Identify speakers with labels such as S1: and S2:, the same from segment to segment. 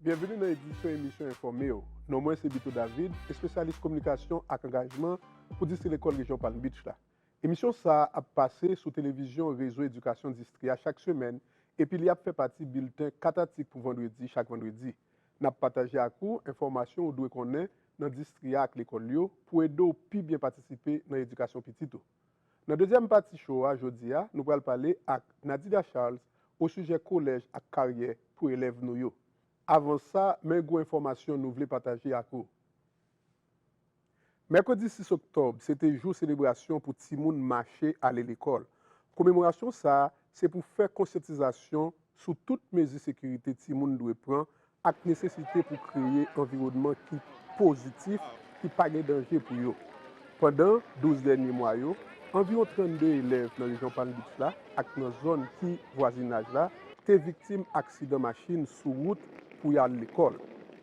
S1: Byenveni nan edisyon emisyon Enfòme yo. Non mwen se Bito David, espesyalis kominikasyon ak angajman pou Distri Lekòl Rejyon Palm Beach la. Emisyon sa a ap pase sou televizyon Rezo Edikasyon Distri a chak semèn epi li ap fè pati bilten 4 atik pou Vandredi chak Vandredi. N ap pataje ak ou enfòmasyon ou dwe konnen nan distri a ak lekòl yo pou ede w pi byen patisipe nan edikasyon pitit ou. Nan dezyèm pati show a jodi a nou pral pale ak Nadida Charles osijè kolèj ak karyè pou elèv nou yo. Avan sa men gwo enfòmasyon nou vle pataje ak ou. Mèkredi 6 oktòb se te jou selebrasyon pou timoun mache ale lekòl. Komemorasyon sa se pou fè konsyantizasyon sou tout mezi sekirite timoun dwe pran ak nesesite pou kreye anviwònman ki pozitif ki pa gen danje pou yo. Pandan 12 dènye mwa yo, anviwon 32 elèv nan rejyon Palm Beach la ak nan zòn ki vwazinaj la te viktim aksidan machin sou wout pou y al lekòl.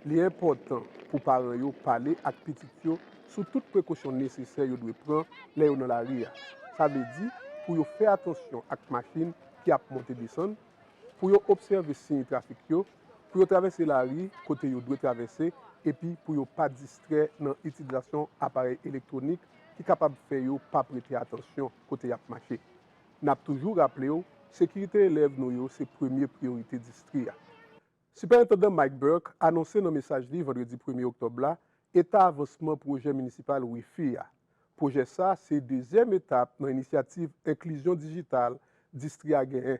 S1: Li enpòtan pou paran yo pale ak pitit yo sou tout prekosyon nesesè yo dwe pran lè yo nan lari a. Sa vle di pou yo fè atansyon ak machin ki ap monte desann, pou yo obsève siy trafik yo, pou yo travèse lari kote yo dwe travèse epi pou yo pa distrè nan itilizasyon aparèy elektwonik ki kapab fè yo pa prete atansyon kote y ap mache. N ap toujou raple w, sekirite elèv nou yo se premye priyorite distri a. Sipèentandan Mike Burke anonse nan mesaj li vandredi premye oktòb la eta avansman pwojè minisipal Wi-Fi a. Pwojè sa se dezyèm etap nan inisyativ enklizyon dijital distri a genyen.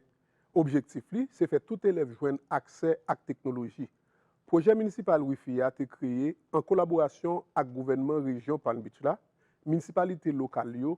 S1: Objektif li se fè tout elèv jwenn aksè ak teknoloji. Pwojè minisipal Wi-Fi a te kreye an kolaborasyon ak gouvènman rejyon Palm Beach la, minisipalite lokal yo,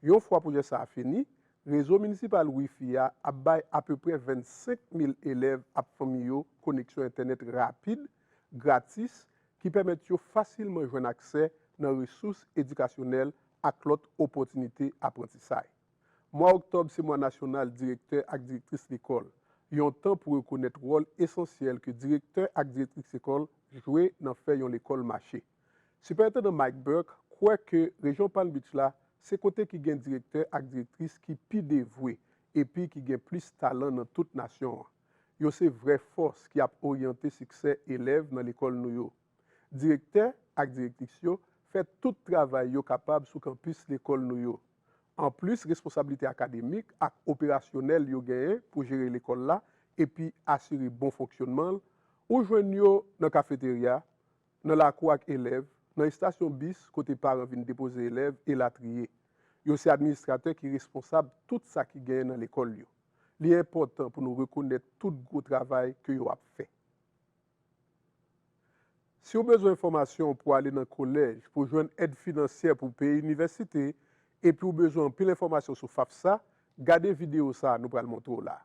S1: Yon fwa pwojè sa a fini, rezo minisipal wifi a ap bay apeprè 25 mil elèv ap fanmi yo koneksyon entènèt rapid, gratis, ki pèmèt yo fasilman jwenn aksè nan resous edikasyonèl ak lòt opòtinite aprantisay. Mwa oktòb se mwa nasyonal direktè ak direktris lekòl, yon tan pou rekonèt wòl esansyèl ke direktè ak direktris lekòl jwe nan fè yon lekòl mache. Sipèentandan Mike Burke kwè ke rejyon Palm Beach la se kote ki gen direktè ak direktris ki pi devwe epi ki gen plis talan nan tout nasyon an. Yo se vrè fòs ki ap oryante siksè elèv nan lekòl nou yo. Direktè ak direktris yo fè tout travay yo kapab sou kanpis lekòl nou yo. Anplis responsablite akademik ak operasyonèl yo genyen pou jere lekòl la epi asire bon fonksyonman l, ou jwenn yo nan kafeterya, nan lakou ak elèv, nan estasyon bis kote paran vin depoze elèv, elatriye. Yo se administratè ki responsab tout sa ki genyen nan lekòl yo. Li enpòtan pou nou rekonèt tout gwo travay ke yo ap fè. Si w bezwen fòmasyon pou ale nan kolèj, pou jwenn èd finansyè pou w peye inivèsite, epi w bezwen anpil enfòmasyon sou FAFSA, gade videyo sa a nou pral montre w la a.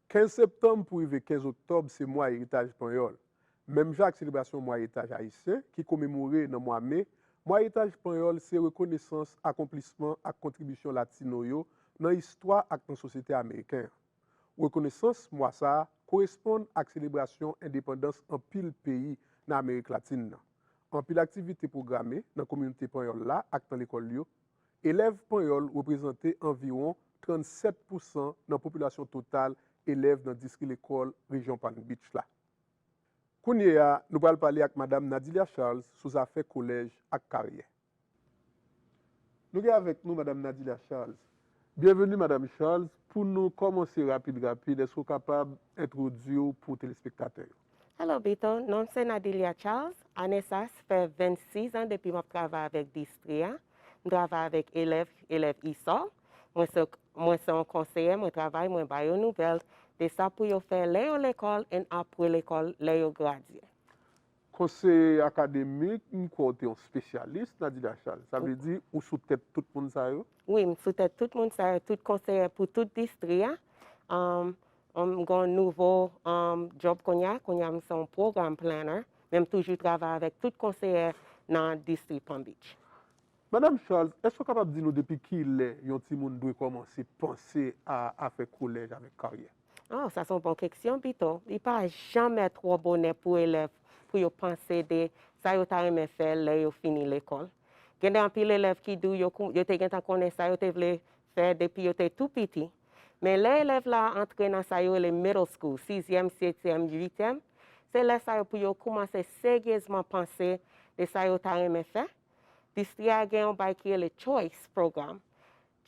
S1: 15 septanm pou rive 15 oktòb se mwa eritaj panyòl. Menm jan ak selebrasyon mwa eritaj ayisyen ki komemore nan mwa me, mwa eritaj panyòl se rekonesans akonplisman ak kontribisyon latino yo nan istwa ak nan sosyete ameriken an. Rekonesans mwa sa a koresponn ak selebrasyon endepandans anpil peyi nan amerik latin nan. Anpil aktivite pwograme nan kominote panyòl la ak nan lekòl yo Elèv panyòl reprezante anviwon 37 pousan nan popilasyon total elèv nan distri lekòl rejyon Palm Beach la. Kounye a, nou pral pale ak Madam Nadilia Charles sou zafè kolèj ak karyè. Nou gen avèk nou Madam Nadilia Charles. Bienvenue Madame Charles, pou nou kòmanse rapid rapid èske ou kapab entwodiw pou telespektatè yo? Hello Bito,
S2: nom se Nadilia Charles, ane sa s fè 26 ans depi map travay avèk distri a, m travay avèk elèv, elèv ISOL, mwen se mwen se yon konseyè mwen travay mwen ba yo nouvèl de sa pou yo fè lè yo lekòl and apre lekòl lè yo gradye. Konseye
S1: akademik, m kwè w te yon spesyalis nan didachal. Sa vle di ou sou tèt tout moun sa yo? Wi, m sou tèt
S2: tout moun sa yo, tout konseye pou tout distri a. M gon nouvo djòb kounye a, kounye a m se yon program planner, men m toujou travay avèk tout konseye nan distri Palm Beach. Madam
S1: Charles, èske w kapab di nou depi kilè yon timoun dwe kòmanse panse a afè kolèj avèk karyè? Oh, sa se yon bon
S2: keksyon pito. Li pa janmè twò bonè pou elèv pou yo panse de sa yo ta renmen fè lè yo fini lekòl. Gen de anpil elèv ki di w yo, yo te gentan konnen sa yo te vle fè depi yo te tou piti. Men lè elèv la antre nan sa yo rele middle school, sizyèm, setyèm, uityèm, se lè sa yo pou yo koumanse seryezman panse de sa yo ta renmen fè. Distri a gen yon bay ki rele choice program.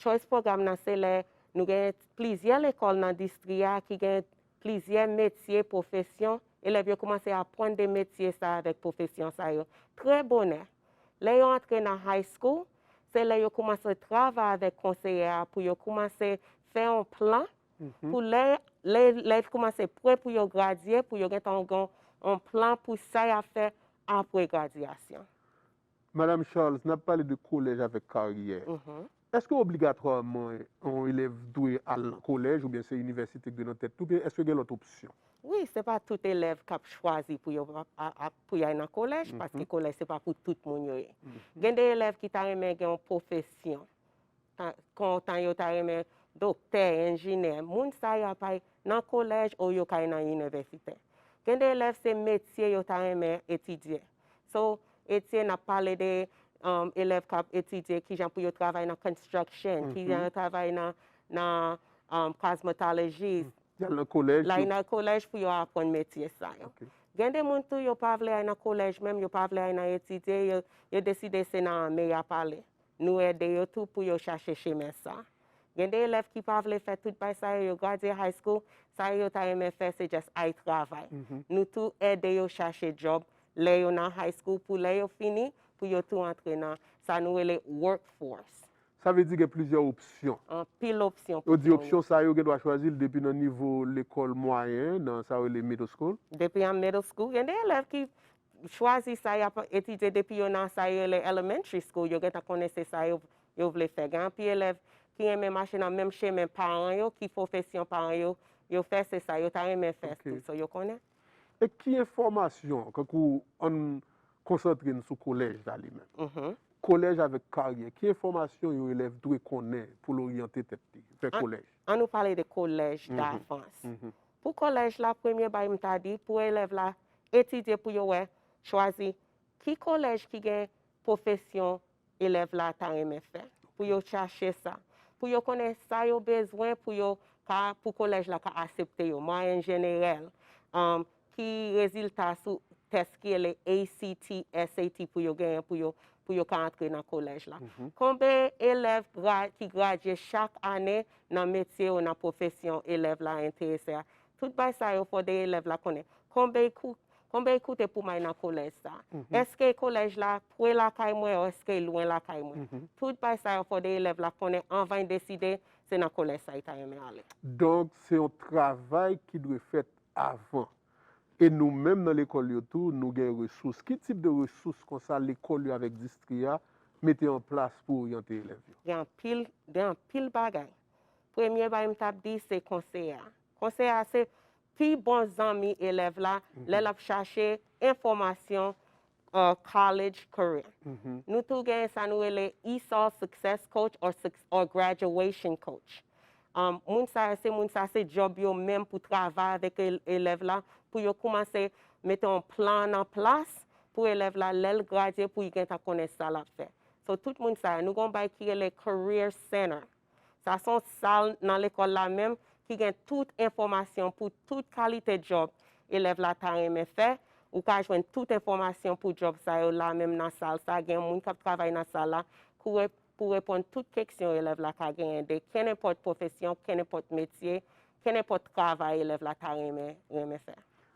S2: Choice Program nan se lè nou gen plizyè lekòl nan distri a ki gen plizyè metye, pwofesyon, elèv yo koumanse apwann de metye sa avèk pwofesyon sa yo trè bonè. Lè yo antre nan High School, se lè yo koumanse travay avèk konseyè a pou yo koumanse fè yon plan pou lè elèv koumanse pre pou yo gradye pou yo gentan gen yon plan pou sa y ap fè apre gradyasyon. Madam
S1: Charles, n ap pale de kolèj avèk karyè. Èske obligatwaman yon elèv dwe al nan kolèj oubyen se inivèsite k dwe nan tèt li oubyen èske gen lòt opsyon? Wi, se pa tout
S2: elèv k ap chwazi pou yo pou y al nan kolèj paske kolèj se pa pou tout moun yo ye. Gen de elèv ki ta renmen gen yon pwofesyon kontan yo ta renmen doktè, enjinè, moun sa yo apay nan kolèj ou yo kay nan inivèsitè. Gen de elèv se metye yo ta renmen etidye. So, etye n ap pale de elèv k ap etidye ki jan pou yo travay nan construction, ki jan yo travay nan cosmetologist. Y al nan kolèj.
S1: Lay nan kolèj pou yo
S2: aprann metye sa yo. Gen de moun tou yo pa vle ay nan kolèj menm, yo pa vle ay nan etidye, yo deside se nan ame y ap ale. Nou ede yo tou pou yo chache chemen sa. Gen de elèv ki pa vle fè tout bay sa yo, yo gradye high school, sa yo yo ta renmen fè se just ay travay. Nou tou ede yo chache job lè yo nan high school pou lè yo fini pou yo tou antre nan sa nou rele work force. Sa vle di gen
S1: plizyè opsyon. Anpil opsyon pou
S2: fè yon. Yo di opsyon sa yo gen
S1: dwa chwazi l depi nan nivo lekòl mwayen, nan sa yo rele middle school. Depi an middle school,
S2: gen de elèv ki chwazi sa y ap etidye depi yo nan sa yo rele elementary school, yo gentan konnen se sa yo yo vle fè. Gen anpil elèv ki renmen mache nan menm chemen paran yo, ki pwofesyon paran yo yo fè, se sa yo ta renmen fè tou. So yo konnen. E ki
S1: enfòmasyon, kankou ann konsantre n sou kolèj la li menm. Kolèj avèk karyè, ki enfòmasyon yon elèv dwe konnen pou l oryante tèt li, fè kolèj? An nou pale de
S2: kolèj davans. Pou kolèj la, premye bagay m ta di, pou elèv la etidye pou yo wè, chwazi, ki kolèj ki gen pwofesyon elèv la ta renmen fè, pou yo chache sa, pou yo konnen sa yo bezwen pou yo ka, pou kolèj la ka asepte yo, mwayenn jenerèl, ki rezilta sou tès ki rele ACT, SAT pou yo genyen pou yo ka antre nan kolèj la. Konben elèv ki gradye chak ane nan metye ou nan pwofesyon elèv la enterese a, Tout bay sa yo fò 2 elèv la konnen. Konbey kou, konbey koute pou may nan kolèj sa? Èskey kolèj la pre lakay mwen o èskey lwen lakay mwen? Tout bay sa yo fò 2 elèv la konnen anvany deside se nan kolèj sa y ta renmen ale. Donk se
S1: yon travay ki dwe fèt avan. E nou menm nan lekòl yo tou nou gen resous. Ki tip de resous konsa lekòl yo avèk distri a mete an plas pou oryante elèv yo? Gen anpil,
S2: gen anpil bagay. premye bagay m tap di se konseye a. Konseye a se pi bon zanmi elèv la mm-hmm. lè l ap chache enfòmasyon uh, college career. Mm-hmm. Nou tou gen sa nou rele ESOL Success Coach or, or Graduation Coach. Um, moun sa se moun sa se job yo menm pou travay avèk elèv la pou yo koumanse mete yon plan nan plas pou elèv la lè l gradye pou y gen ta konnen sa l ap fè. So tout moun sa, nou gon bay ki rele Career Center. Sa son sal nan lekòl la menm ki gen tout enfòmasyon pou tout kalite djòb elèv la ta renmen fè, ou ka jwenn tout enfòmasyon pou djòb sa yo la menm nan sal sa, gen moun k ap travay nan sal la kouwè pou reponn tout keksyon elèv la ka genyen de kennenpòt pwofesyon, kennenpòt metye, kennenpòt travay elèv la ta renmen fè.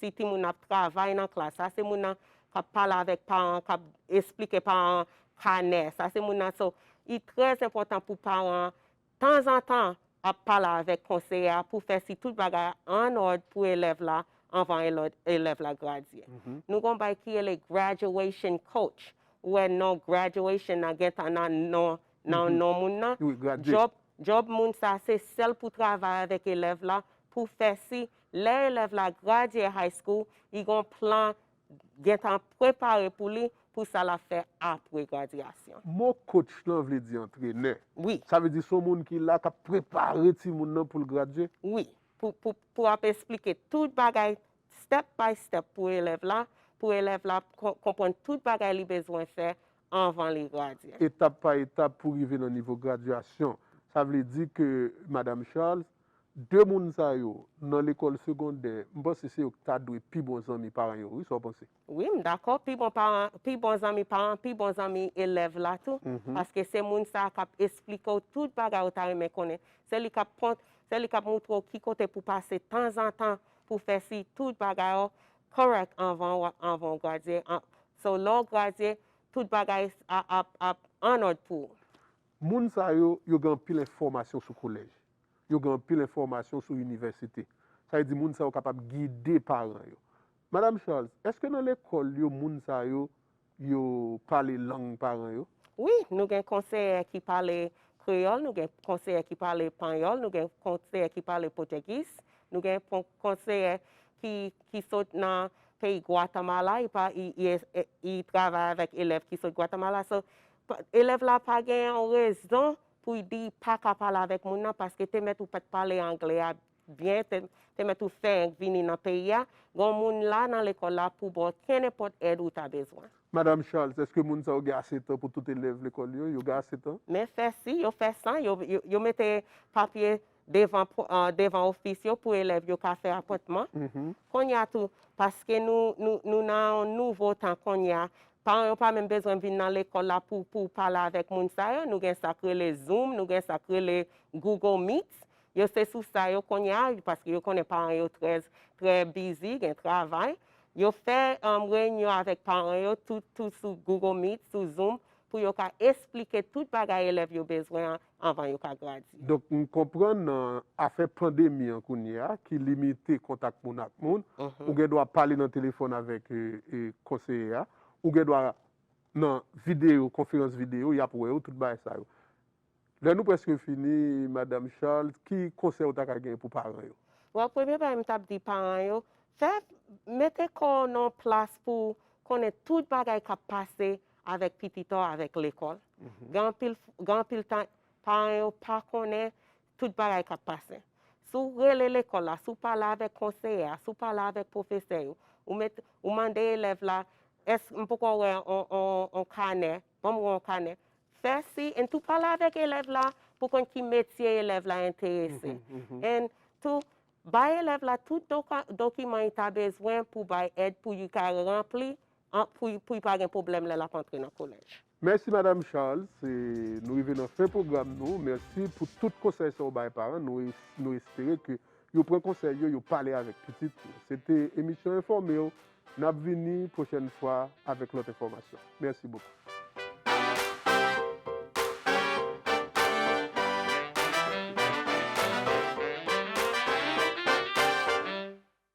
S2: Si timoun nan ap travay nan klas, sa se moun nan k ap pale avèk paran an, k ap esplike paran an kanè, sa se moun nan. So, li trè enpòtan pou paran an, tanzantan, ap pale avèk konseye a pou fè si tout bagay an òd pou elèv la anvan elèv la gradye. Nou gen yon bagay ki rele graduation coach. Ou wè non graduation nan gen tan nan non moun nan. Djòb moun sa a se sèl pou travay avèk elèv la pou fè si Lè elèv la gradye high school, li gen yon plan gentan prepare pou li pou sa lap fè apre gradyasyon. Mo coach
S1: lan vle di antrenè. Wi. Sa vle di se yon
S2: moun ki
S1: la kap prepare timoun nan poul gradye? Wi.
S2: Pou ap esplike tout bagay step by step pou elèv la, pou elèv la konprann tout bagay li bezwen fè anvan li gradye. Etap pa etap
S1: pou rive nan nivo gradyasyon. Sa vle di ke Madam Charles, 2 moun sa yo nan lekòl segondè m panse se yo ki ta dwe pi bon zanmi paran yo wi sa w panse? Wi m dakò pi
S2: bon paran pi bon zanmi paran pi bon zanmi elèv la tou paske se moun sa a k ap esplike w tout bagay ou ta renmen konnen se li k ap kont se li k ap moutre w ki kote pou pase tanzantan pou w fè si tout bagay ou kòrèk anvan w anvan w gradye an so lè w gradye tout bagay a ap ap annòd pou ou. Moun sa
S1: yo yo gen anpil enfòmasyon sou kolèj. Yo gen anpil enfòmasyon sou inivèsite. Sa vle di moun sa yo kapab gide paran yo. Madam Charles, èske nan lekòl yo moun sa yo, yo pale lang paran yo? Wi, nou gen
S2: konseyè ki pale kreyòl, nou gen konseyè ki pale panyòl, nou gen konseyè ki pale potègis, nou gen konseyè ki sot nan peyi Gwatamala, y travay avèk elèv ki sot Gwatamala. So, elèv la pa gen yon rezon pou y di pa ka pale avèk moun nan paske te mèt ou pa t pale anglè a byen, te mèt ou fenk vini nan peyi a, gon moun la nan lekòl la pou ba w kennenpòt èd ou ta bezwen. Madam Charles, èske
S1: moun sa yo gen ase tan pou tout elèv lekòl yo? Yo gen ase tan? Men fè si, yo fè
S2: san, yo mete papye devan ofis yo pou elèv yo ka fè apwentman. Kounye a tou, paske nou nan yon nouvo tan kounye a, paran yo pa menm bezwen vin nan lekòl la pou pale avèk moun sa yo. Nou gen sa k rele Zoom, nou gen sa k rele Google Meet. Yo se sou sa yo kounye a, paske yo konnen paran yo trè bizi, gen travay. Yo fè reyinyon avèk paran yo tou sou Google Meet, sou Zoom, pou yo ka esplike tout bagay elèv yo bezwen an anvan yo ka gradye. Donk m konprann
S1: nan afè pandemi an kounye a ki limite kontak moun ak moun, ou gen dwa pale nan telefòn avèk konseye a, ou gen dwa nan videyo, konferans videyo, y ap wè ou, tout bagay sa yo. Lè nou prèske fini, Madam Charles, ki konsèy ou ta ka gen pou paran yo? Bon, premye bagay m t
S2: ap di paran yo, fè, mete kò w nan yon plas pou konnen tout bagay k ap pase avèk pi pita w avèk lekòl, gen anpil tan paran yo pa konnen tout bagay k ap pase. Si w rele lekòl la, si w pale avèk konseye a, si w pale avèk pwofesè yo, ou mande elèv la, èske m poko wè yon kanè, ban m wè yon kanè, fè si, en tou pale avèk elèv la pou konn ki metye elèv la enterese. En tou, bay elèv la tout dokiman li ta bezwen pou bay èd pou li ka ranpli An pou pou y pa gen pwoblèm lè lap antre nan kolèj. Mèsi madam
S1: Charles nou rive nan fen pwogram nou mèsi pou tout konsèy sa ou bay paran nou nou espere ke yo pran konsèy yo yo pale avèk pitit yo se te emisyon enfòmew nap vini pwochèn fwa avèk lòt enfòmasyon mèsi bokou.